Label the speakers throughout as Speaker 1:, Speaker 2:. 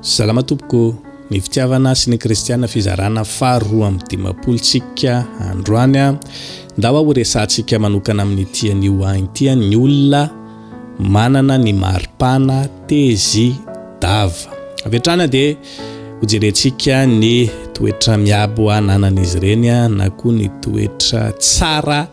Speaker 1: Salama tompoko, ny fitiavana sy ny kristiana fizarana faha roa amby dimampolo tsika androany a, ndawa ho resahantsika manokana amin'ity anio any ity a ny olona manana ny maripana tezi dava avy hatrany a dia ho jerentsika ny toetra miabo ananan'izy ireny a na koa ny toetra tsara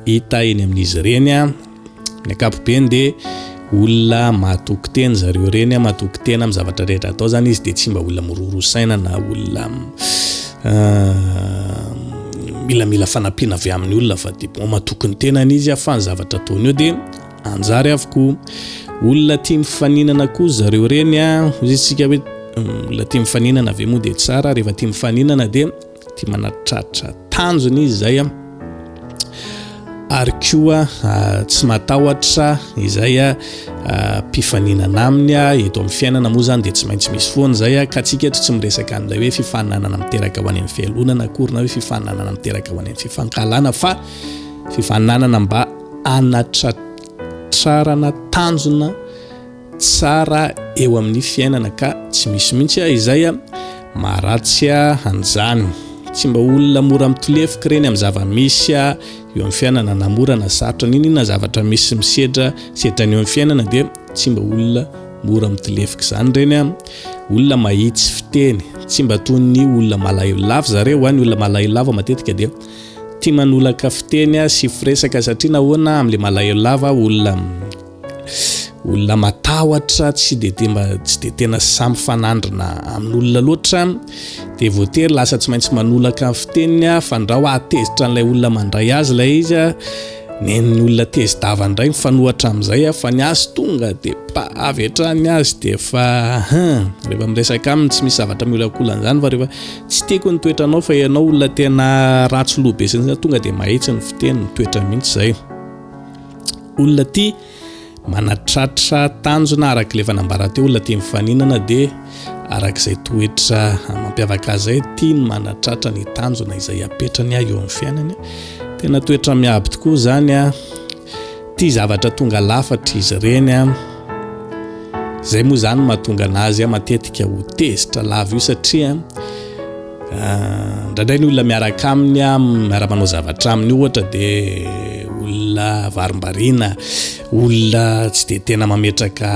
Speaker 1: hita eny amin'izy ireny a, Ny ankapobeny dia olona mahatoky tena zareo ireny, mahatoky tena amin'ny zavatra rehetra atao zany izy dia tsy mba olona miroro saina na olona milamila fanampiana avy amin'ny olona fa dia bon mahatoky ny tenany izy fa ny zavatra ataony eo dia anjary avokoa. Olona tia mifaninana koa zareo ireny a, hoy isika hoe olona tia mifaninana ve moa dia tsara, rehefa tia mifaninana dia. Tia manatratra tanjona izy izay an. Ary koa tsy matahotra izay mpifaninana aminy eto amin'ny fiainana moa izany dia tsy maintsy misy foana izay ka antsika eto tsy miresaka an'ilay hoe fifaninanana miteraka ho any amin'ny fialonana akory na hoe fifaninanana miteraka ho any amin'ny fifankahalana fa fifaninanana mba hanatratrarana tanjona tsara eo amin'ny fiainana ka tsy misy mintsy ah izay ah maharatsy ah an'izany tsy mba olona mora mitolefoka ireny amin'ny zava-misy ah eo amin'ny fiainana na mora na sarotra n'inona zavatra misy misedra sedra ny eo amin'ny fiainana dia tsy mba olona mora mitolefoka izany ireny ah olona mahitsy fiteny tsy mba toy ny olona malahelo lava zareo ah ny olona malahelo lava matetika dia tia manolaka fiteny ah sy firesaka satria nahoana amin'ilay malahelo lava olona olona matahotra tsy de de mba tsy de tena samy mifanandrina amin'olona loatra de voatery lasa tsy maintsy manolaka ny fiteniny a fa ndrao ahatezitra an'ilay olona mandray azy ilay izy a nen'ny olona tezi-dava indray mifanohatra amin'izay a fa ny azy tonga de pa avy hatrany ny azy de fa hin rehefa miresaka aminy tsy misy zavatra miolakolana izany fa rehefa tsy tiako ny toetranao fa ianao olona tena ratsy loha be sisa tonga de mahitsy ny fiteny ny toetra mihitsy izay olona ity manatratra tanjona araka ilay fanambara teo olona tia mifaninana dia araka izay toetra mampiavaka azy zay tia ny manatratra ny tanjona izay apetrany ahy eo amin'ny fiainany tena toetra miaby tokoa izany a tia zavatra tonga lafatra izy ireny a izay moa izany mahatonga an'azy a matetika ho tezitra lava io satria Indraindray ny olona miaraka aminy miara-manao zavatra aminy ohatra dia olona varimbariana, olona tsy dia tena mametraka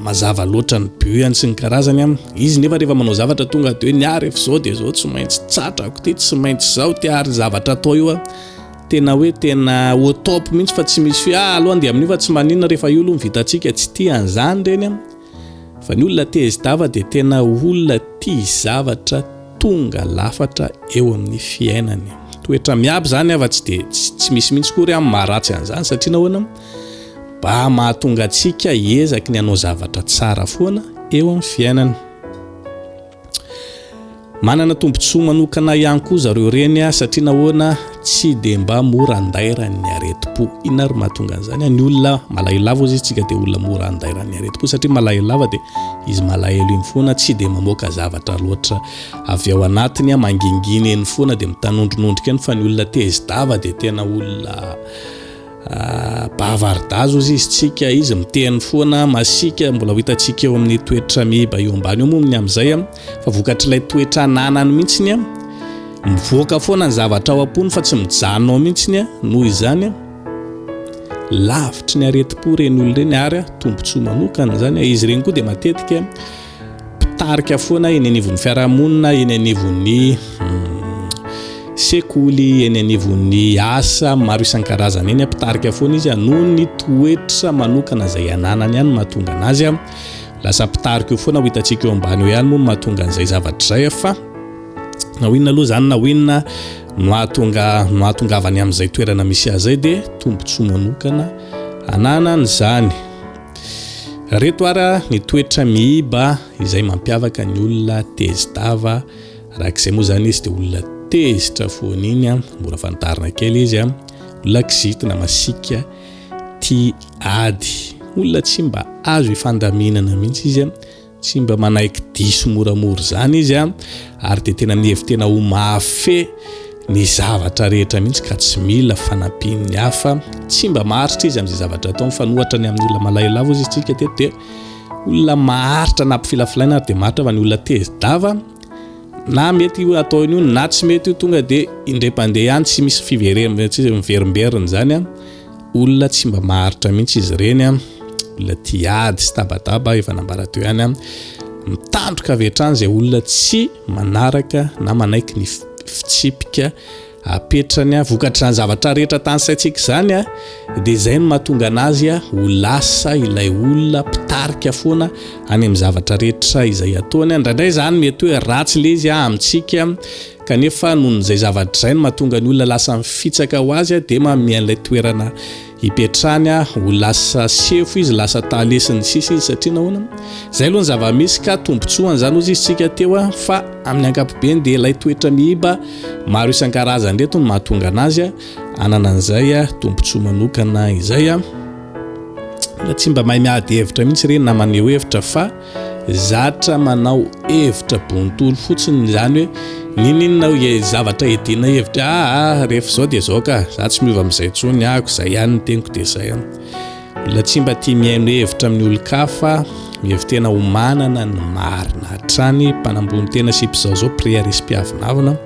Speaker 1: mazava loatra ny but-ny sy ny karazany. Izy nefa rehefa manao zavatra tonga dia hoe ny ahy rehefa izao dia izao, tsy maintsy tsatrako ity, tsy maintsy izao ity ary io zavatra atao io tena hoe tena au top mihitsy fa tsy misy hoe ah aloha andeha amin'io fa tsy maninona rehefa io aloha no vitantsika, tsy tia an'izany ireny. Fa ny olona te hisdava dia tena olona tia zavatra tonga lafatra eo amin'ny fiainany. Toetra miaby izany afa tsy dia tsy misy mihitsy kory amin'ny maharatsy an'izany satria nahoana mba mahatonga antsika hiezaky ny hanao zavatra tsara foana eo amin'ny fiainana. Manana tombontsoa manokana ihany koa zareo reny a, satria nahoana tsy dia mba mora andairan'ny aretim-po. Inona ary mahatonga an'izany? Ny olona malahelo lava hozy isika dia olona mora andairan'ny aretim-po satria malahelo lava dia izy malahelo iny foana tsy dia mamoaka zavatra loatra avy ao anatiny, mangingina eny foana dia mitanondrinondrika eny fa ny olona tezi-dava dia tena olona Bava aridazo izy izy tsika izy miteny foana masika mbola ho hitantsika eo amin'ny toetra miba eo ambany eo moa ny amin'izay a fa vokatr'ilay toetra ananany mihitsiny a mivoaka foana ny zavatra ao am-pony fa tsy mijanona ao mihitsiny a noho izany a lavitry ny aretim-po ireny olona ireny ary a tombontsoa manokana izany a izy ireny koa dia matetika mpitarika foana eny anivon'ny fiarahamonina, eny anivon'ny sekoly, eny anivon'ny asa maro isan-karazany eny, mpitarika foana izy noho ny toetra manokana izay ananany ihany mahatonga anazy lasa mpitarika io foana ho hitantsika eo ambany eo ihany moa mahatonga an'izay zavatra izay fa na ho inona aloha izany na ho inona no hahatonga no hahatongavany amin'izay toerana misy azy izay dia tombontsoa manokana ananany izany Reto ara ny toetra miiba izay mampiavaka ny olona tezitava, arak'izay moa zany izy de olona tezitra foana iny a, mora fantarina kely izy a, olona kizitina, masiaka, tia ady, olona tsy mba azo ifandaminana mihitsy izy a, Tsy mba manaiky diso moramora izany izy an, ary dia tena mihevi-tena ho mahafehy ny zavatra rehetra mihitsy ka tsy mila fanampian'ny hafa. Tsy mba maharitra izy amin'izay zavatra ataony fa nohatra ny amin'ny olona malahelavo izy isika teto dia olona maharitra na mpifilafilaina ary dia maharitra fa ny olona tezi-dava na mety io ataony io na tsy mety io tonga dia indray mpandeha ihany tsy misy fiverim- tsy miverimberina izany an. Olona tsy mba maharitra mihitsy izy ireny an, olona tia ady sy tabataba efa nambara teo ihany an, mitandroka avy hatrany izay olona tsy manaraka na manaiky ny fitsipika apetrany an, vokatry izany zavatra rehetra tany saintsika izany an, dia izay no mahatonga anazy an ho lasa ilay olona mpitarika foana any amin'ny zavatra rehetra izay ataony an, indraindray izany mety hoe ratsy ilay izy an amintsika Kanefa noho izay zavatra izay no mahatonga ny olona lasa mifitsaka ho azy dia manome an'ilay toerana hipetrahany ho lasa sefo izy, lasa tale sy ny sisa izy satria nahoana? Izay aloha ny zava-misy ka tombontsoa an'izany hozy izy tsika teo fa amin'ny ankapobeny dia ilay toetra mihiba maro isan-karazany ireto no mahatonga an'azy hanana an'izay tombontsoa manokana izay. Tsy mba mahay miady hevitra mihitsy ireny na maneho hevitra fa. Zatra manao hevitra bontolo fotsiny izany hoe ninininao ie zavatra edina hevitra aa rehefa zao dia zao ka za tsy miova amizay tsony ako zay ihany ny teniko dia zay an olona tsy mba tia mihaino hevitra amin'ny olon-kafa mihevi-tena ho manana ny marina hatrany mpanambony tena sy mpizaozao prière sy mpiavonavona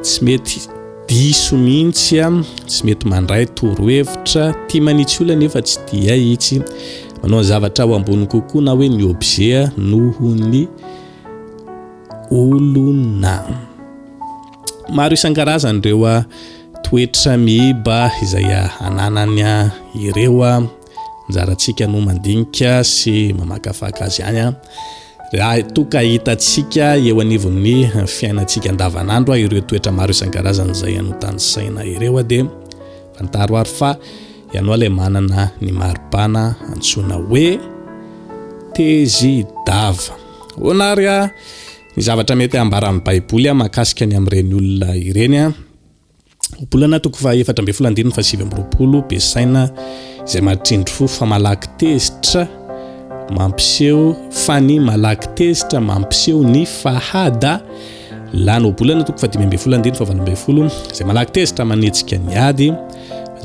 Speaker 1: tsy mety Diso mihintsy an! Tsy mety mandray torohevitra, tia manitsy olona nefa tsy tia itsy manao ny zavatra ho ambony kokoa na hoe ny objet noho ny olona. Maro isan-karazany ireo toetra miiba izay ananany ireo. Anjarantsika no mandinika sy mamakafaka azy ihany an. Raha toa ka hitantsika eo anivon'ny fiainantsika andavanandro ireo toetra maro isan-karazany izay anotanisaina ireo dia fantaro ary fa ianao ilay manana ny maripana antsoina hoe tezy dava. Hoana ary ny zavatra mety hambaran'ny Baiboly makasika ny amin'ireny olona ireny. Bolana toko faha efatra ambin'ny folo andininy faha sivy amby roapolo be saina izay mahatrindry fo fa malaky tezitra mampiseho fa ny malaky tezitra mampiseho ny fahada lany obolana toko fadimy ambin'ny folo andininy fahavalo ambin'ny folo izay malaky tezitra manetsika ny ady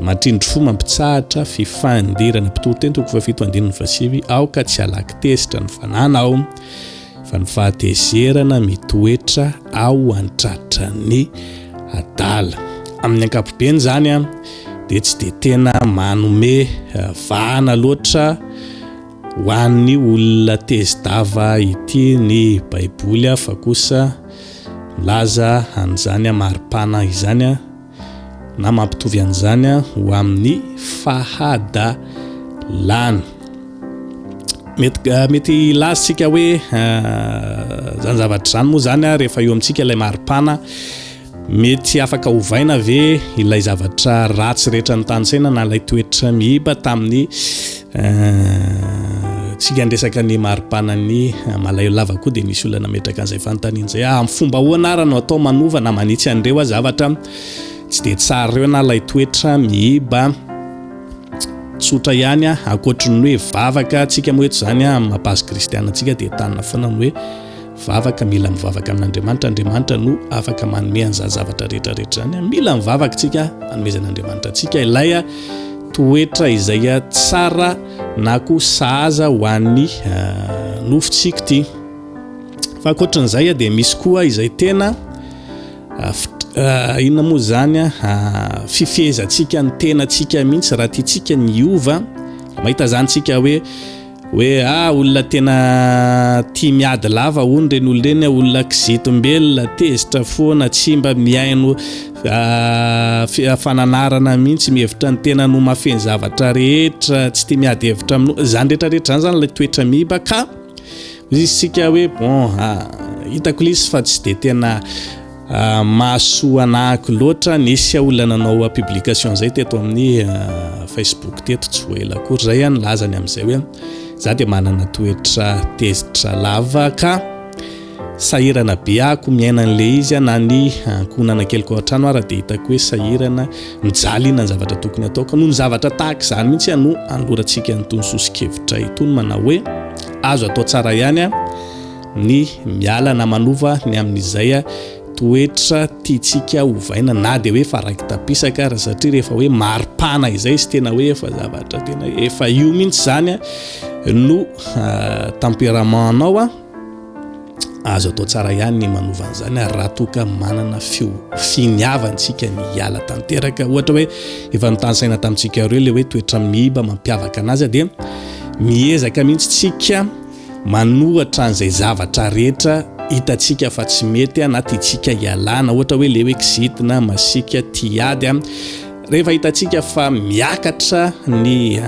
Speaker 1: mahatrindry fo mampitsahatra fifandirana mpitory teny toko fahafito andininy fahasivy aoka tsy alaky tezitra ny fanana ao Fa ny fahatezerana mitoetra ao an-tratran'ny adala. Amin'ny ankapobeny izany dia tsy dia tena manome vahana loatra ho an'ny olona tezi-dava ity ny Baiboly fa kosa milaza an'izany maripana izany. na mampitovy an'izany ho amin'ny fahadalana. Mety, eh, mety hilazintsika hoe eh, zany zavatra zany moa zany a rehefa eo amintsika ilay maripana mety afaka hovaina ve ilay zavatra ratsy rehetra ny tanysaina na ilay toetra mihiba tamin'ny Tsika andresaka ny maripana ny malayo lava koa dia misy olona nametraka an'izay fanontaniana izay ah, amin'ny fomba ahoana ara no atao manova na manitsy an'ireo ah, zavatra tsy dia tsara ireo na ilay toetra mihiba tsotra ihany ah, ankoatry ny hoe vavaka tsika moa eto izany ah, amin'ny mapazo kristiana tsika dia tanina foana ny hoe Vavaka, mila mivavaka amin'Andriamanitra, Andriamanitra no afaka manome an'izany zavatra rehetra rehetra izany. Mila mivavaka isika hanomezan'Andriamanitra antsika ilay toetra izay tsara na koa sahaza ho an'ny nofontsika ity. Fa ankoatran'izay dia misy koa izay tena inona moa izany a fifehezantsika ny tenantsika mihitsy raha tiantsika ny hiova mahita izany tsika hoe Hoe a olona tena tia miady lava hono ireny olona ireny a, olona kizitim-belona, tezitra foana, tsy mba mihaino ah, fananarana mihitsy, mihevitra ny tenany ho mahafehy ny zavatra rehetra, tsy tia miady hevitra amin'o, izany rehetrarehetra izany izany ilay toetra miiba ka hoy isika hoe bon ah, hitako ilay izy fa tsy dia tena Mahasoa anahako loatra, nisy olona nanao publication zay teto amin'ny Facebook teto tsy ho ela akory zay an, nilazany amin'izay hoe za dia manana toetra tezitra lava ka sahirana be ako miaina an'le izy an, na ny ankohonana keliko ao an-trano ara dia hitako hoe sahirana mijaly inona ny zavatra tokony ataoko, noho ny zavatra tahaka izany mihitsy no anolorantsika an'itony soso-kevitra itony manao hoe azo atao tsara ihany an, ny miala na manova ny amin'izay toetra tiantsika hovaina na dia hoe faraiki-tampisaka ary satria rehefa hoe maripana izay sy tena hoe efa zavatra tena efa io mihitsy izany no ah, tempérament anao a azo atao tsara ihany ny manova an'izany ary raha toa ka manana fio finiavantsika ny hiala tanteraka ohatra hoe efa notanisaina tamintsika ireo le hoe toetra mihiba mampiavaka anazy dia miezaka mihitsy tsika Manoratra an'izay zavatra rehetra hitantsika fa tsy mety a, na tiantsika hialana, ohatra hoe le hoe kizitina, masiaka, tia ady a. Rehefa hitantsika fa miakatra ny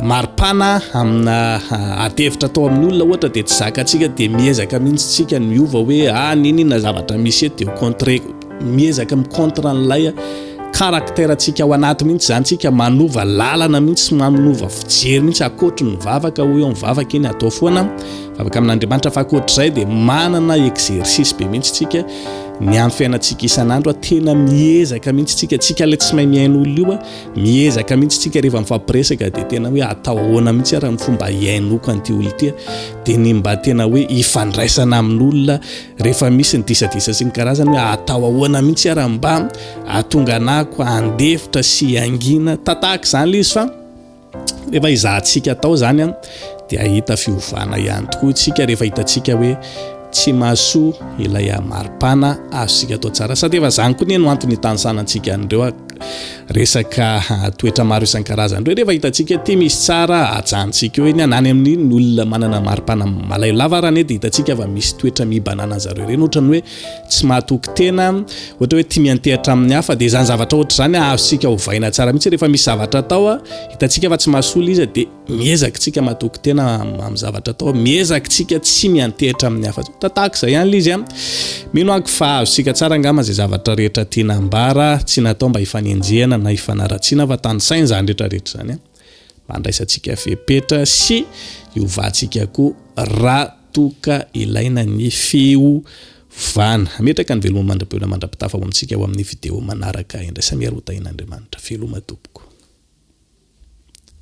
Speaker 1: maripana amina adihevitra atao amin'ny olona ohatra dia tsy zakantsika dia miezaka mihitsy tsika miova hoe ah nini na zavatra misy eto dia ho contrer-ko. Miezaka mi contre an'ilay caractère ntsika ao anaty mihitsy izany tsika, manova lalana mihitsy sy manova fijery mihitsy akoatry ny vavaka hoy aho ny vavaka iny atao foana vavaka amin'Andriamanitra fa akoatr'izay dia manana exercice be mihitsy tsika ny amin'ny fiainantsika isan'andro a tena miezaka mihitsy tsika tsika ilay tsy mahay mihaino olona io a miezaka mihitsy tsika rehefa mifampiresaka dia tena hoe atao ahoana mihitsy ara ny fomba hihainoako an'ity olona ity dia ny mba tena hoe hifandraisana amin'olona rehefa misy ny disadisa sy ny karazany hoe atao ahoana mihitsy ara mba atonga anako andefitra sy angina tatahaka izany le izy fa rehefa izahantsika atao zany an dia ahita fiovana ihany tokoa tsika rehefa hitantsika hoe tsy mahasoa ilay amari-pana azontsika atao tsara sady efa zany koa ny no antony hitanisana antsika an'ireo Resaka toetra maro isan-karazany ireo rehefa hitantsika ety misy tsara ajanontsika eo eny na any amin'iny olona manana maripana malayo lava ary anie dia hitantsika fa misy toetra mibanana an'i zareo ireny ohatran'ny hoe tsy mahatoky tena ohatra hoe tia miantehatra amin'ny hafa dia izany zavatra ohatr'izany azontsika ovaina tsara mihitsy rehefa misy zavatra atao hitantsika fa tsy mahasolo izy dia Miezaka isika matoky tena amin'ny zavatra atao. Miezaka isika tsy miantehitra amin'ny hafa. Toa tahaka izay ihany ilay izy a. Mino aho fa azontsika tsara angamba izay zavatra rehetra tiana ambara, tsy natao mba hifanenjehana na hifanaratsiana fa tanisaina izany rehetra rehetra izany a. Mba handraisantsika fepetra sy hiovantsika koa raha toa ka ilaina ny fiovana. Hametraka ny veloma mandra-peo mandra-pitafa ho amintsika ao amin'ny video manaraka indray. Samia Roa Tahian'Andriamanitra. Veloma tompoko.